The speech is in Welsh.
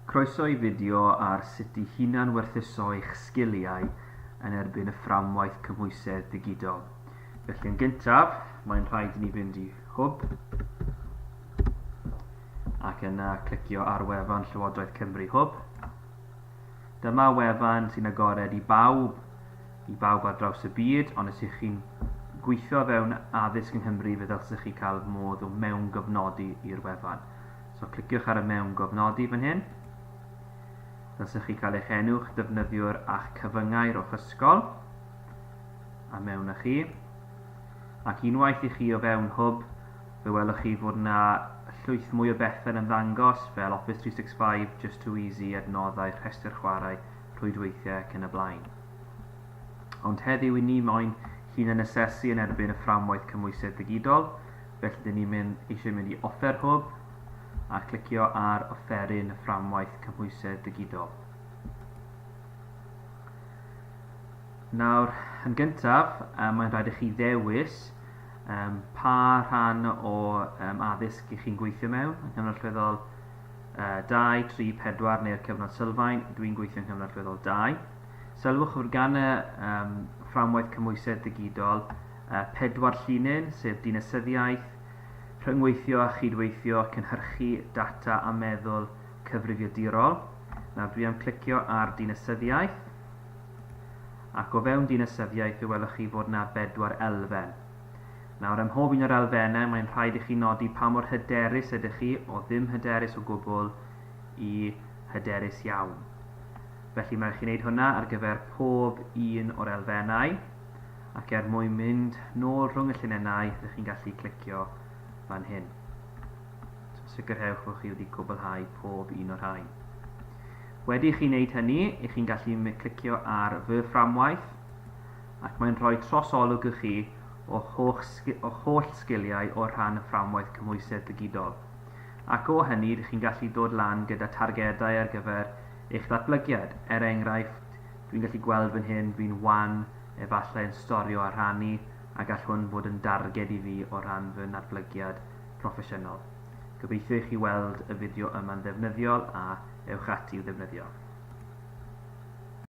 Croeso i fideo ar sut i hunan-werthuso eich sgiliau yn erbyn y fframwaith cymhwysedd digidol. Felly yn gyntaf, mae'n rhaid i ni fynd i Hwb ac yna clicio ar wefan Llywodraeth Cymru Hwb. Dyma wefan sy'n agored i bawb, i bawb ar draws y byd, ond os ych chi'n gweithio fewn addysg yng Nghymru fe ddylsech chi cael modd o mewn gofnodi i'r wefan. So cliciwch ar y mewn gofnodi fan hyn. Dylsech chi cael eich enw, eich defnyddiwr a'ch cyfyngau o'ch ysgol. A mewn â chi. Ac unwaith i chi o fewn Hwb, fe welwch chi fod yna llwyth mwy o bethau yn ymddangos fel Office 365, Just Too Easy, adnoddau, rhestr chwarae, rhwydweithiau ac yn y blaen. Ond heddiw i ni moyn hunan asesu yn erbyn y fframwaith cymhwysedd digidol, Felly dyn ni'n mynd, eisiau mynd i Offer Hwb a clicio ar Offeryn y Fframwaith Cymhwysedd Digidol. Nawr, yn gyntaf, um, mae'n rhaid i chi ddewis um, pa rhan o um, addysg i chi'n gweithio mewn, yng Nghyngor Allweddol uh, 2, 3, 4 neu'r cyfnod sylfaen, dwi'n gweithio yng Nghyngor Allweddol 2. Sylwch fod gan y um, fframwaith cymwysedd digidol a phedwar llinyn, sef dinasyddiaeth, rhyngweithio a chydweithio, cynhyrchu data a meddwl cyfrifiadurol. Nawr dwi am clicio ar dinasyddiaeth ac o fewn dinasyddiaeth fe welwch chi fod yna bedwar elfen. Nawr ym mhob un o'r elfennau mae'n rhaid i chi nodi pa mor hyderus ydych chi o ddim hyderus o gwbl i hyderus iawn. Felly mae'n rhaid i chi wneud hwnna ar gyfer pob un o'r elfennau. Ac er mwyn mynd nôl rhwng y llinennau, rydych chi'n gallu clicio fan hyn. So sicrhewch bod chi wedi cwblhau pob un o'r rhain. Wedi i chi wneud hynny, ych chi'n gallu clicio ar fy fframwaith ac mae'n rhoi trosolwg i chi o holl sgiliau o'r rhan y fframwaith cymhwysedd digidol. Ac o hynny, ydych chi'n gallu dod lan gyda targedau ar gyfer eich datblygiad. Er enghraifft, dwi'n gallu gweld fan hyn, dwi'n wan Efallai yn storio a rhannu a gall hwn fod yn darged i fi o ran fy natblygiad proffesiynol. Gobeithio i chi weld y fideo yma'n ddefnyddiol a ewch ati i'w ddefnyddio.